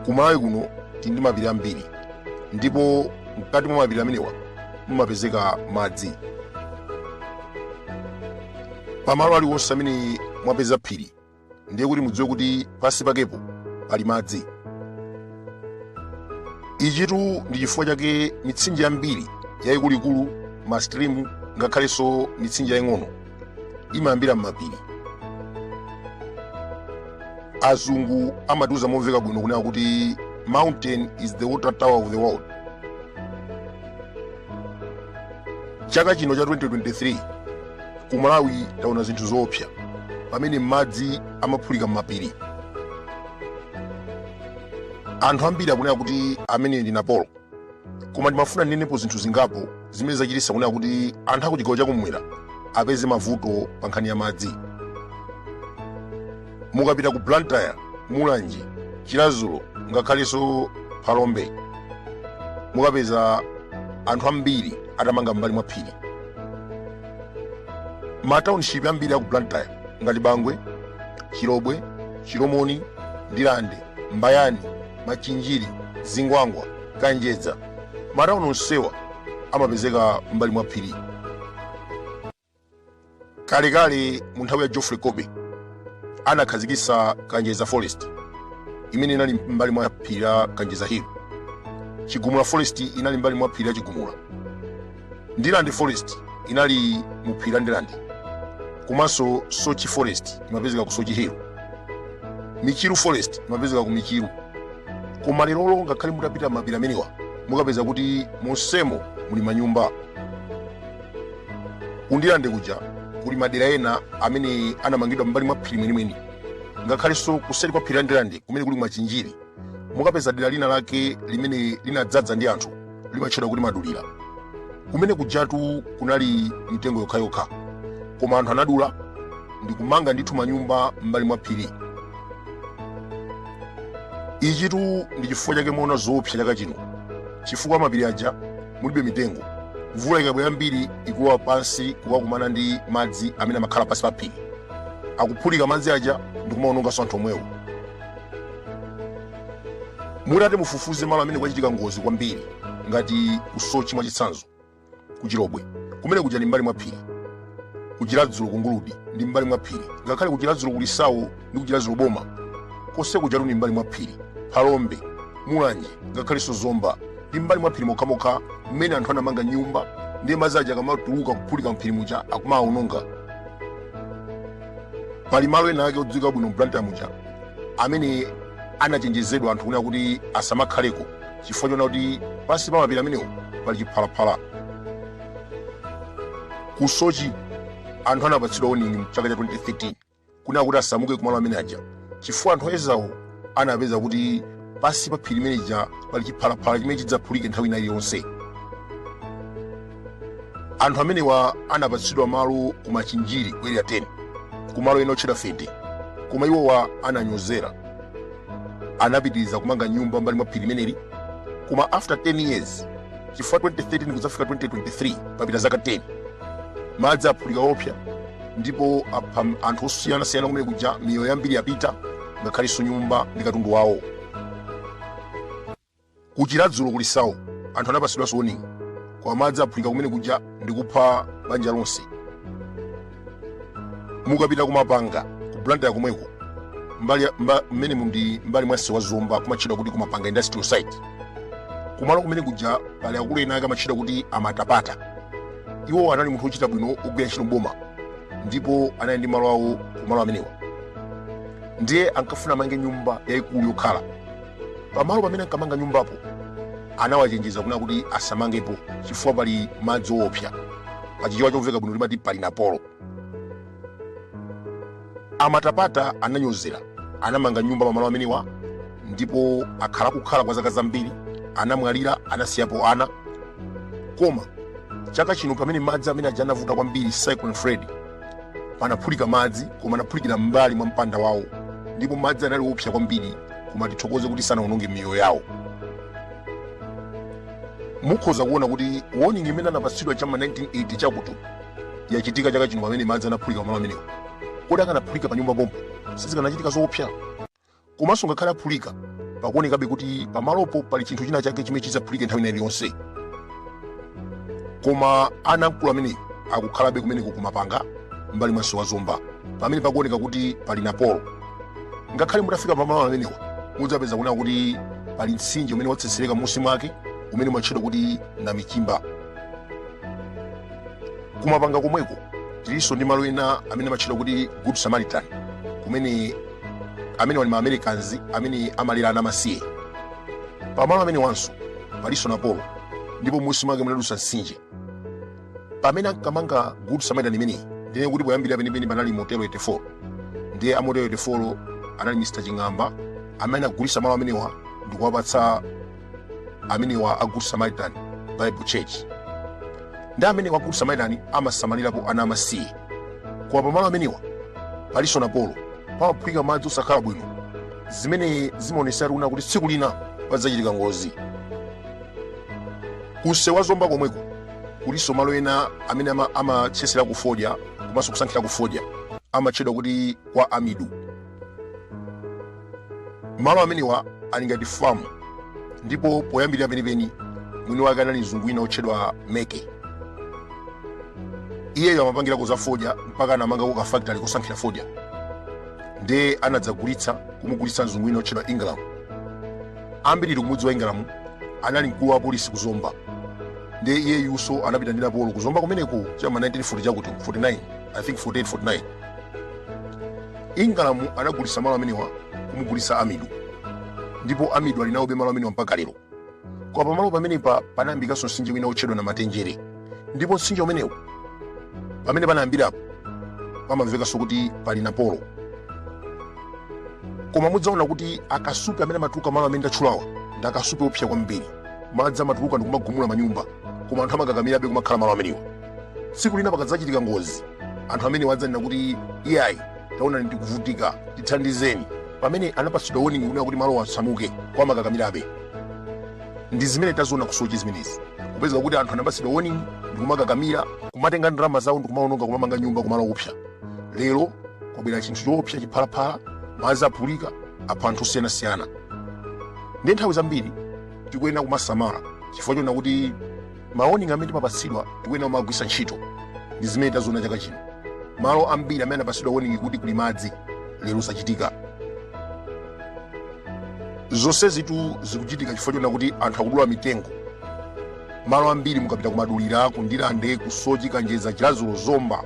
kumalawi kuno tili ndi mapiri ambiri ndipo mkati mwa mapiri amenewa mumapezeka madzi pamalo aliwonse amene mwapeza phiri ndiye kuti mudziwe kuti pansi pakepo pali madzi ichitu ndi chifukwa chake mitsinje yambiri yayikuluikulu mastrimu ngakhalenso mitsinje yaying'ono imayambira m'mapiri azungu amatiuza momveka bwino kunena kuti mountain is the water tower of the world chaka chino cha 2023 ku malawi taona zinthu zoopsa pamene madzi amaphulika m'mapiri anthu ambiri akunena kuti amene ndi napolo koma ndimafuna ndinenepo zinthu zingapo zimene zachititsa kunena kuti anthu akuchigawo chakumwera apeze mavuto pa nkhani ya madzi mukapita ku blantyre mulanje chiradzulu ngakhalenso phalombe mukapeza anthu ambiri atamanga m'mbali mwa phiri mataunship ambiri aku blantyre ngati bangwe chilobwe chilomoni ndirande mbayani machinjiri zingwangwa kanjedza matauni onsewa amapezeka m'mbali mwa phiri kalekale mu nthawi ya geoffrey colby anakhazikitsa kanjedza forest imene inali mbali mwa phiri la kanjedza hill chigumula forest inali mbali mwa phiri la chigumula ndirande forest inali mu phiri la ndirande komanso soche forest imapezeka ku soche hill michiru forest imapezeka ku michiru koma lerolo ngakhale mutapita m'mapiri amenewa mukapeza kuti monsemo muli manyumba kundirande kuja kuli madera ena amene anamangidwa mbali mwa phiri mwenimweni ngakhalenso kuseri kwa phiri la ndirande kumene kuli machinjiri mukapeza dera lina lake limene linadzaza ndi anthu limatchedwa kuti madulira kumene kujatu kunali mitengo yokhayokha koma anthu anadula ndi kumanga ndithu manyumba mbali mwa phiri ichitu ndi chifukwa chake mwaona zoopsa chaka chino chifukwa m'mapiri aja mulibe mitengo mvula ikabwera yambiri ikulowa pansi kukakumana ndi madzi amene amakhala pansi pa phiri akuphulika madzi aja ndikumaononganso anthu omwewo mutati mufufuze malo amene kwachitika ngozi kwambiri ngati kusoche mwachitsanzo kuchilobwe kumene kuja ndi mbali mwa phiri kuchiradzulu kunguludi ndi mbali mwa phiri ngakhale kuchiradzulu kulisawo ndi kuchiradzulu boma konse kujatu ndi mbali mwa phiri phalombe mulanje ngakhalenso zomba ndi mbali mwa phiri mokhamokha mmene anthu anamanga nyumba ndiye madzi aja akamatuluka kuphulika mphiri muja akumawononga pali malo ena ake odziwika bwino mblantyre muja amene anachenjezedwa anthu kunena kuti asamakhaleko chifukwa choona kuti pansi pa mapiri amenewo pali chiphalaphala ku soche anthu anapatsidwa warning mchaka cha 2013 kunena kuti asamuke kumalo amene aja chifukwa anthu oyezawo anapeza kuti pansi pa phiri limene lija pali chiphalaphala chimene chidzaphulike nthawi ina iliyonse anthu amenewa anapatsidwa malo ku machinjiri ku area 10 kumalo ena otchedwa fete koma iwowa ananyozera anapitiriza kumanga nyumba mbali mwa phiri limeneli koma after 10 years chifukwa 2013 kudzafika 2023 papita zaka 10 madzi aphulika oopsa ndipo apha anthu osiyanasiyana kumene kuja miyoyo yambiri yapita ngakhalenso nyumba ndi katundu wawo kuchiradzulu kulisawo anthu anapatsidwanso warning koma madzi aphulika kumene kuja ndi kupha banja lonse mukapita kumapanga ku blantyre komweko mmene mu ndi mbali mwa msewu wa zomba kumatchedwa kuti kumapanga industrial site kumalo kumene kuja pali akulu ena ake amatchedwa kuti amatapata iwo anali munthu wochita bwino ogwira ntchito mboma ndipo anali ndi malo awo kumalo amenewa ndiye ankafuna amange nyumba yayikulu yokhala Pamalo pamene ankamanga nyumbapo anawachenjeza kunena kuti asamangepo chifukwa pali madzi oopsa. Pachichewa chomveka bwino timati pali Napolo. A Matapata ananyozera anamanga nyumba pamalo amenewa ndipo akhala akukhala kwa zaka zambiri, anamwalira, anasiyapo ana. Koma chaka chino pamene madzi amene aja anavuta kwambiri Cyclone Freddy, panaphulika madzi koma anaphulikira m'mbali mwa mpanda wawo ndipo madzi anali oopsa kwambiri koma tithokoze kuti sanawononge miyoyo yawo mukhoza kuona kuti warning imene anapatsidwa cha ma 1980 chakuti yachitika chaka chino pamene madzi anaphulika pamalo amenewo kodi akanaphulika pa nyumba pompo sizikanachitika zoopsa komanso ngakhale aphulika pakuonekabe kuti pamalopo pali chinthu china chake chimene chidzaphulike nthawi ina iliyonse koma ana a mkulu amene akukhalabe kumeneko kumapanga mbali mwa msewu wa zomba pamene pakuoneka kuti pali napolo ngakhale mutafika pamalo amenewa mudzapeza kunena kuti pali mtsinje umene watsetsereka m'munsi mwake umene umatchedwa kuti namichimba kumapanga komweko tilinso ndi malo ena amene amatchedwa kuti good samaritan kumene amenewa ali maamericans amene amalera ana amasiye pamalo amenewanso palinso napolo ndipo m'munsi mwake munadusa mtsinje pamene ankamanga good samaritan imeneyi ndiye kuti poyambirira penipeni panali motel 84 ndiye a motel 84 anali mr ching'amba amene anagulitsa malo amenewa ndikuwapatsa amenewa a good samaritan bible church ndi amenewa a good samaritan amasamalirapo ana amasiye koma pamalo amenewa palinso napolo pamaphulika madzi osakhala bwino zimene zimaonetsa kunena kuti tsiku lina padzachitika ngozi kunsewu wa zomba komweko kulinso malo ena amene amatchesera kufodya komanso kusankhira kufodya amatchedwa kuti kwa amidu malo amenewa ali ngati famu ndipo poyambirira penipeni mwini wake anali mzungu wina otchedwa meke iyeyo amapangira kuzafodya mpaka anamanga kukafactory kosankhira fodya nde anadzagulitsa kumugulitsa mzungu wina otchedwa ingram ambiri ife tikumudziwa ingram anali mkulu wa polisi ku zomba ndiye iyeyunso anapita ndi napolo kuzomba kumeneko chama 1940 chakuti 49 i think 48 49 ingram anagulitsa malo amenewa kumugulitsa amidu ndipo amidu ali nawobe malo amenewa mpaka lero koma pamalo pamenepa panayambikanso mtsinje wina wotchedwa namatenjere ndipo mtsinje umenewu pamene panayambirapo pamamvekanso kuti pali napolo koma mudzaona kuti akasupe amene amatuluka malo amene ndatchulawa ndi akasupe oopsa kwambiri madzi amatuluka ndikumagumula manyumba koma anthu amakakamirabe kumakhala malo amenewa tsiku lina pakadzachitika ngozi anthu amenewa adzanena kuti iyayi taonani tikuvutika tithandizeni pamene anapatsidwa woningi kunena kuti malowa asamuke koma amakakamirabe ndi zimene taziona kusochi zimenezi kupezeka kuti anthu anapatsidwa woningi ndikumakakamira kumatenga ndalama zawo ndikumaononga kumamanga nyumba kumalo oopsa lero kwabwera chinthu choopsa chiphalaphala madzi aphulika apha anthu osiyanasiyana Ndiye nthawi zambiri tikuyenera kumasamala chifukwa chonena kuti mawoningi amene timapatsidwa tikuyenera kumagwiritsa ntchito ndi zimene taziona chaka chino malo ambiri amene anapatsidwa woningi kuti kuli madzi lero zachitika zonsezitu zikuchitika chifukwa chonena kuti anthu akudula mitengo malo ambiri mukapita kumadulira ku ndirande kusochi kanjedza chiradzulu zomba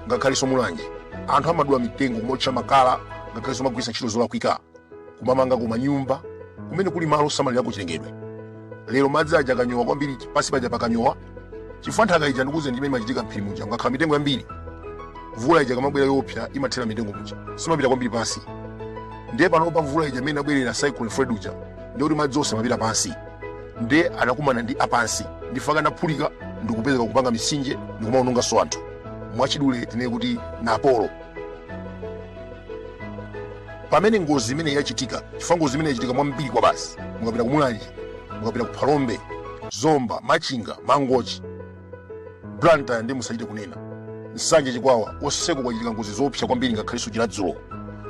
ngakhalenso mulanje anthu amadula mitengo kumaotcha makala ngakhalenso kumagwiritsa ntchito zolakwika kumamanga kumanyumba kumene kuli malo osamalirako chilengedwe lero madzi aja akanyowa kwambiri pansi paja pakanyowa chifukwa nthaka ija ndikuze ndi chimene chimachitika mphiri muja mukakhala mitengo yambiri mvula ija ikamabwera yoopsa imathera m'mitengo muja siimapita kwambiri pansi ndiye panopa mvula ija mmene inabwerera cyclone freddy uja ndiye kuti madzi onse amapita pansi ndiye anakumana ndi apansi ndifaka anaphulika ndikupezeka kupanga mitsinje ndikumaononganso anthu mwachidule tinene kuti napolo pamene ngozi imene yachitika chifukwa ngozi imene yachitika m'mwa mbiri kwabasi mukapita ku mulanje mukapita ku phalombe zomba machinga mangochi blantyre ndi musachite kunena nsanje chikwawa onseko kwachitika ngozi zoopsa kwambiri ngakhalenso chiradzulo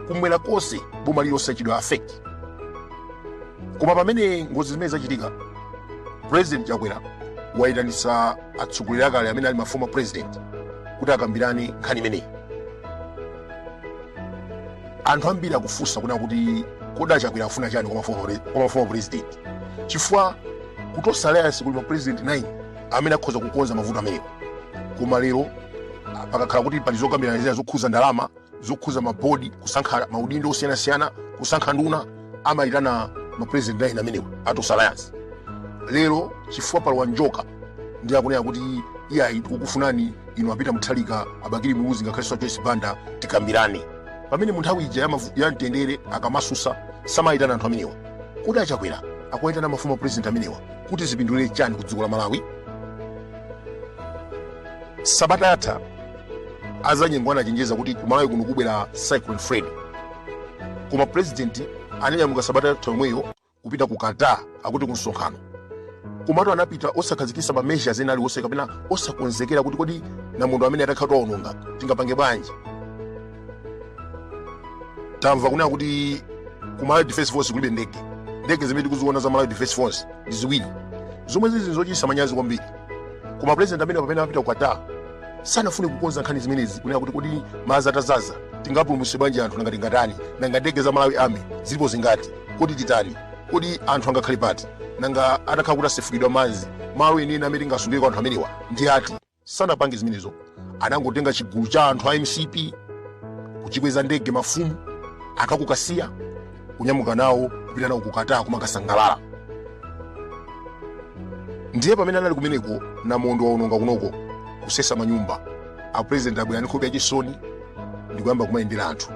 kumwera konse boma lililonse lachitidwa affect koma pamene ngozi zimene zachitika president chakwera wayitanisa atsogoleri akale amene ali maformer president kuti akambirane nkhani imeneyi anthu ambiri akufunsa kunena kuti kodi achakwera afuna chani kwa maformer president chifukwa kutonse alliance kuli ma president 9 amene akhoza kukonza mavuto amenewa koma lero pakakhala kuti pali zokambirana zina zokhuza ndalama zokhuza mabodi kusankha maudindo osiyanasiyana kusankha nduna amayitana mapresident nine amenewa atonse alliance lero chifukwa palowa njoka ndi akunena kuti iyayi tikukufunani inu apeter mutharika abakili muluzi ngakhalenso joyce banda tikambirane pamene mu nthawi ija ya mtendere akamasusa samayitana anthu amenewa kodi achakwera akuyitana maformer president amenewa kuti zipindulire chani ku dziko la malawi sabata yatha azanyengo anachenjeza kuti kumalawi kuno kubwera cyclone freddy koma president ananyamuka sabata yatha yomweyo kupita ku qatar akuti ku msonkhano komatu anapita osakhazikisa ma measures ena aliwonse kapena osakonzekera kuti kodi namondwe ameneyu atakhala kuti waononga tingapange bwanji tamva kunena kuti ku malawi defense force kulibe ndege ndege zimene tikuziona za malawi defense force ndi ziwiri zomwe zili zochititsa manyazi kwambiri koma president ameneyu pamene amapita ku qatar sanafune kukonza nkhani zimenezi kunena kuti kodi madzi atazaza tingapulumutse bwanji anthu nanga tingatani nanga ndege za malawi army zilipo zingati kodi titani kodi anthu angakhale pati nanga atakhala kuti asefukidwa madzi malo enieni amene tingasungireko anthu amenewa ndi ati sanapange zimenezo anangotenga chigulu cha anthu a mcp kuchikweza ndege mafumu aku kasiya kunyamuka nawo kupita nawo ku qatar kumakasangalala ndiye pamene anali kumeneko namondwe waononga kunoko kusesa manyumba a president abwera ndi nkhope yachisoni ndikuyamba kumayendera anthu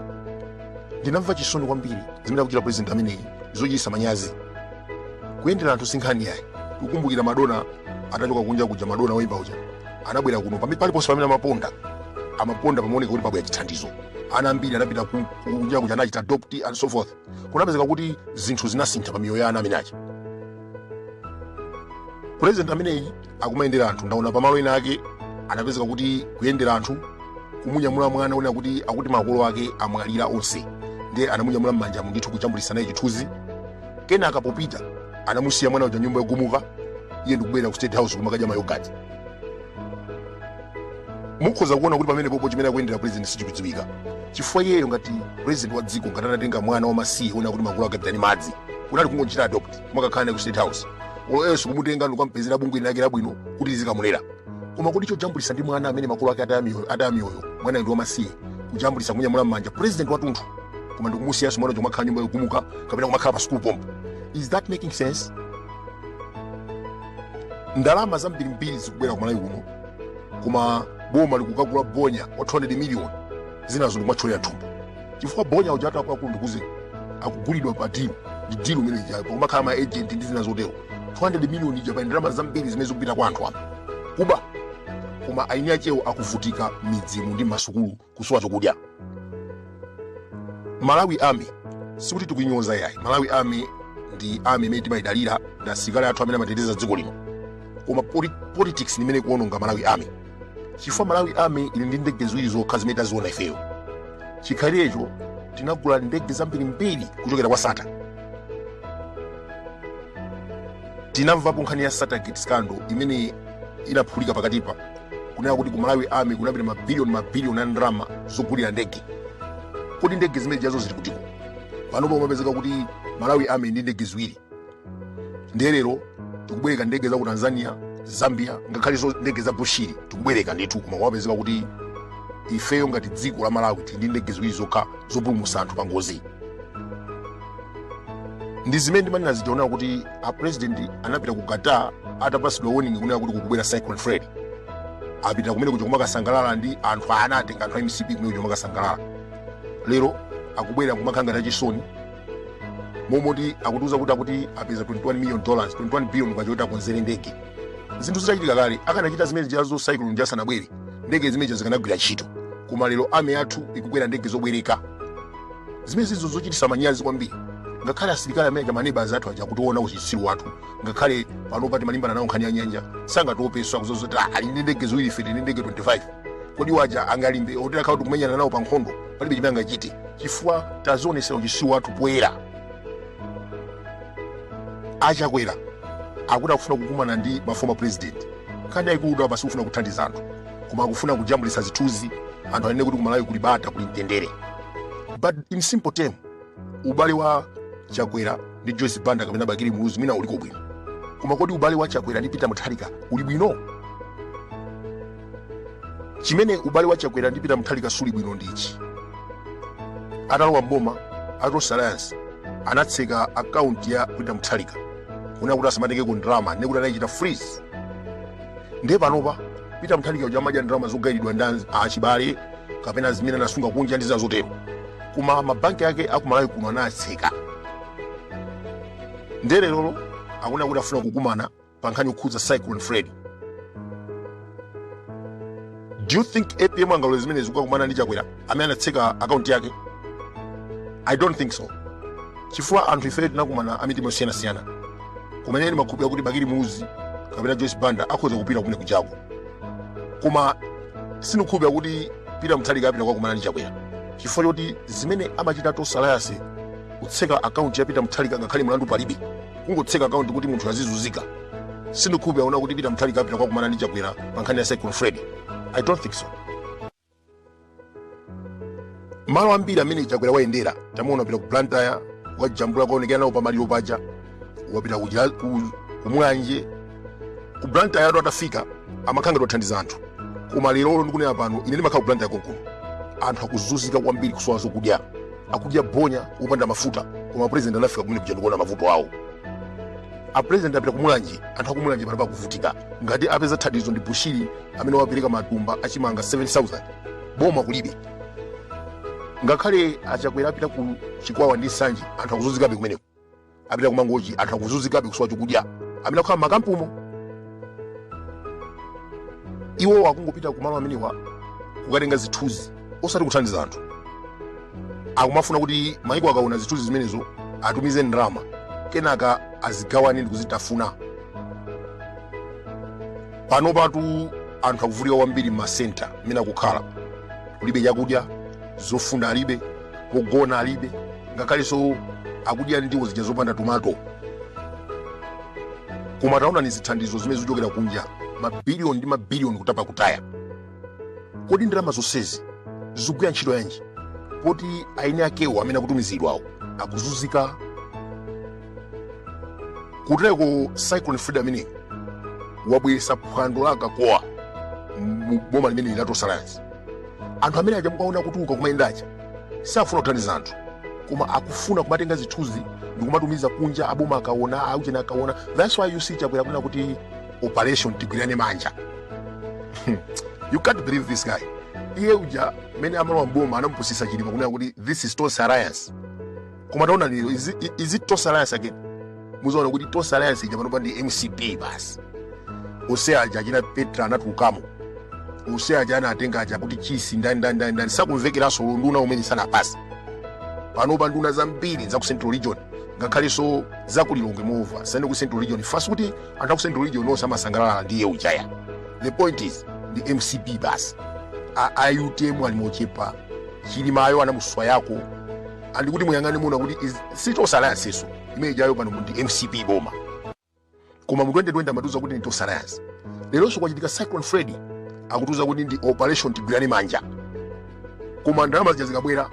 ndinamva chisoni kwambiri zimene akuchita president ameneyi zochitisa manyazi kuyendera anthu sinkhani yayi tikukumbukira madonna atachoka kunja kuja madonna woyimba uja anabwera kuno paliponse pamene amaponda amaponda pamaoneka kuti pabwera chithandizo ana ambiri anapita kunja kuja anachita adopt and so forth kunapezeka kuti zinthu zinasintha pa miyoyo ya ana amene aja president ameneyi akumayendera anthu ndaona pamalo ena ake anapezeka kuti kuyendera anthu kumunyamula mwana onena kuti akuti makolo ake amwalira onse ndiye anamunyamula m'manjamu ndithu kujambulisa naye chithunzi kenaka popita anamusiya mwana uja nyumba yogumuka iye ndikubwerera ku state house kumakadya mayogati mukhoza kuona kuti pamene popo chimene akuyendera president sichikudziwika chifukwa iyeyo ngati president wa dziko ngati anatenga mwana wamasiye uja kuti makolo ake apita ndi madzi kunali kungochita adopt kumakakhala naye ku state house or else kumutenga ndikukampezera bungwe lake labwino kuti lizikamulera koma kutichojambulisa ndi mwana amene makolo ake ataya miyoyo ataya miyoyo mwana ndi wamasiye kujambulisa kumunyamula m'manja president watunthu koma ndikumusiyanso mwana uja akhala nyumba yogumuka kapena kumakhala pa school pompo is that making sense ndalama zambirimbiri zikubwera ku malawi kuno koma boma likukagula bonya wa 200 million zinazo ndikumatcholera thumba chifukwa bonya uja akuluakulu ndikuze akugulidwa pa dilu ndi dilu imene ijayo pakumakhala ma agent ndi zina zotero 200 million ija pali ndalama zambiri zimene zikupita kwa anthu apa kuba koma eni akewo akuvutika m'midzimu ndi m'masukulu kusowa chokudya malawi army sikuti tikuinyoza yayi malawi army ndi army imene timayidalira ndi asilikali athu amene amateteza dziko lino koma poli- politics ndi imene ikuononga malawi army chifukwa malawi army ili ndi ndege ziwiri zokha zimene taziona ifeyo chikhalirecho tinagula ndege zambirimbiri kuchokera kwa sattar tinamvapo nkhani ya sattargate scandal imene inaphulika pakatipa kunena kuti ku malawi army kunapita mabiliyoni mabiliyoni a ndalama zogulira ndege kodi ndege zimene jazo zili kutiko panopa kumapezeka kuti malawi army ndi ndege ziwiri ndiye lero tikubwereka ndege za ku tanzania zambia ngakhalenso ndege za bushiri tikubwereka ndithu koma kumapezeka kuti ifeyo ngati dziko la malawi tili ndi ndege ziwiri zokha zopulumutsa anthu pa ngozi ndi zimene ndimanena zija kunena kuti a president anapita ku qatar atapasidwa warning kunena kuti kukubwera cyclone fred apita kumene kuja kumakasangalala ndi anthu anatenga anthu a mcp kumene kuja kumakasangalala lero akubwera kumakhala ngati achisoni momoti akutiuza kuti akuti apeza 21 million dollars 21 billion kwacha kuti akonzere ndege zinthu zitachitika kale akanachita zimene jazo cyclone ija sanabwere ndege zimene zija zikanagwira ntchito koma lero army yathu ikukwera ndege zobwereka zimenezizo zochitisa manyazi kwambiri ngakhale asilikali amene aja maneba anzathu aja akutiona uchitsiru wathu ngakhale panopa timalimbana nawo nkhani ya nyanja sangatiopeso akuziwa zoti ali ndi ndege ziwiri ife tili ndi ndege 25 kodi awa aja angalimbe olo itakhala kuti kumenyana nawo pa nkhondo palibe chimene angachite chifukwa tazionesera uchitsiru wathu poyera achakwera akuti akufuna kukumana ndi maformer president nkhani yayikulu ndi apa sikufuna kuthandiza anthu koma akufuna kujambulitsa zithunzi anthu anene kuti kumalawi kuli bata kuli mtendere but in simple term ubale wa chakwera ndi joyce banda kapena bakili muluzi mwina uliko bwino koma kodi ubale wa chakwera ndi peter mutharika uli bwino chimene ubale wa chakwera ndi peter mutharika suli bwino ndichi atalowa mboma a tonse alliance anatseka akaunti ya peter mutharika kunena kuti asamatengeko ndalama nekuti anachita freeze ndiye panopa peter mutharika uja amadya ndalama zogayiridwa ndi achibale kapena zimene anasunga kunja ndi zina zotero koma mabanki ake akumalawi kuno anatseka ndiye lerolo akunena kuti afuna kukumana pa nkhani yokhudza cyclone freddy do you think apm angalole zimenezi kukakumana ndi chakwera amene anatseka akaunti yake i don't think so chifukwa anthu ifeyo tinakumana amitima yosiyanasiyana kumene ine ndimakhulupirira kuti bakili muluzi kapena joyce banda akhoza kupita kumene kujako koma sindikhulupirira kuti peter mutharika apita kukakumana ndi chakwera chifukwa choti zimene amachita tonse alliance kutseka akaunti ya peter mutharika ngakhale mlandu palibe kungotseka akaunti kuti munthu azizunzika sindikhulupirira aona kuti peter mutharika apita kukakumana ndi chakwera pa nkhani ya cyclone freddy i don't think so malo ambiri amene chakwera wayendera tamuona wapita ku blantyre wajambula kaonekera nawo pamaliro paja wapita ku Chila- ku- ku mulanje ku blantyre atu atafika amakhala ngati awathandiza anthu koma lerolo ndikunena pano ine ndimakhala ku blantyre konkuno anthu akuzunzika kwambiri kusowa zokudya akudya bonya opanda mafuta koma president anafika kumene kuja ndikuona mavuto awo apresident apita kumulanje anthu akumulanje panopa akuvutika ngati apeza thandizo ndi bushiri amene wapereka matumba achimanga 7000 boma kulibe ngakhale achakwera apita ku chikwawa ndi nsanje anthu akuzunzikabe kumeneko apita kumangochi anthu akuzunzikabe kusowa chokudya amene akukhala makampumo iwo akungopita kumalo amenewa kukatenga zithunzi osati kuthandiza anthu akumafuna kuti maiko akaona zithunzi zimenezo atumize ndalama kenaka azigawane ndi kuzitafuna panopatu anthu akuvutika kwambiri m'masenta mmene akukhala kulibe chakudya zofunda alibe kogona alibe ngakhalenso akudya ndiwo zija zopanda tomato koma taonani zithandizo zimene zikuchokera kunja mabiliyoni ndi mabiliyoni kutapa kutaya kodi ndalama zonsezi zikugwira ntchito yanji poti eni akewo amene akutumiziridwawo akuzunzika kutereko cyclone freddy ameneyi wabweretsa phwando la akatowa mu boma limeneli la tonse alliance anthu amene aja mukaona kutuluka kumayenda uja sakufuna kuthandiza anthu koma akufuna kumatenga zithunzi ndikumatumiza kunja aboma akaona a ku china akaona that's why you see chakwera kunena kuti operation tigwirane manja you can't believe this guy iye uja mene amalowa mboma anamupusisa chilima kunena kuti this is tonse alliance koma taona lero is i- is it tonse alliance again muzaona kuti tonse alliance ija panopa ndi mcp basi onse aja achina petra anatulukamo onse aja anatenga aja kuti chisi ndi ndani ndani ndani ndani sakumvekeranso nduna zimene zasankhidwa panopa nduna zambiri za ku central region ngakhalenso za ku lilongwe moreover si ku central region fact si kuti anthu a ku central region onse amasangalala ndi iye uja ayi the point is the mcp basi A- a utm ali mochepa chilimayo anamusiya yekha and kuti muyang'ane muona kuti is- si tonse alliance yonse imene ijayo pano ndi mcp boma koma mu 2020 amatiuza kuti ndi tonse alliance leronso kwachitika cyclone freddy akutiuza kuti ndi operation tigwirane manja koma ndalama zija zikabwera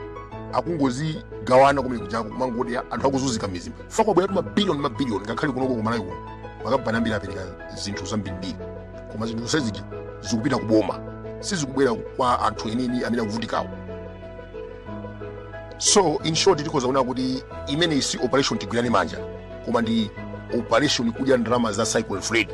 akungozigawana kumene kujako kumangoti anthu akuzunzika mizimu ifa kwabweratu mabiliyoni mabiliyoni ngakhale kunoko ku malawi kuno makampani ambiri apereka zinthu zambirimbiri koma zinthu zonse zija zikupita kuboma sizikubwera kwa anthu enini amene akuvutikawo so in short tikhoza kuona kuti imeneyi si operation tigwirane manja koma ndi operation kudya ndalama za cyclone freddy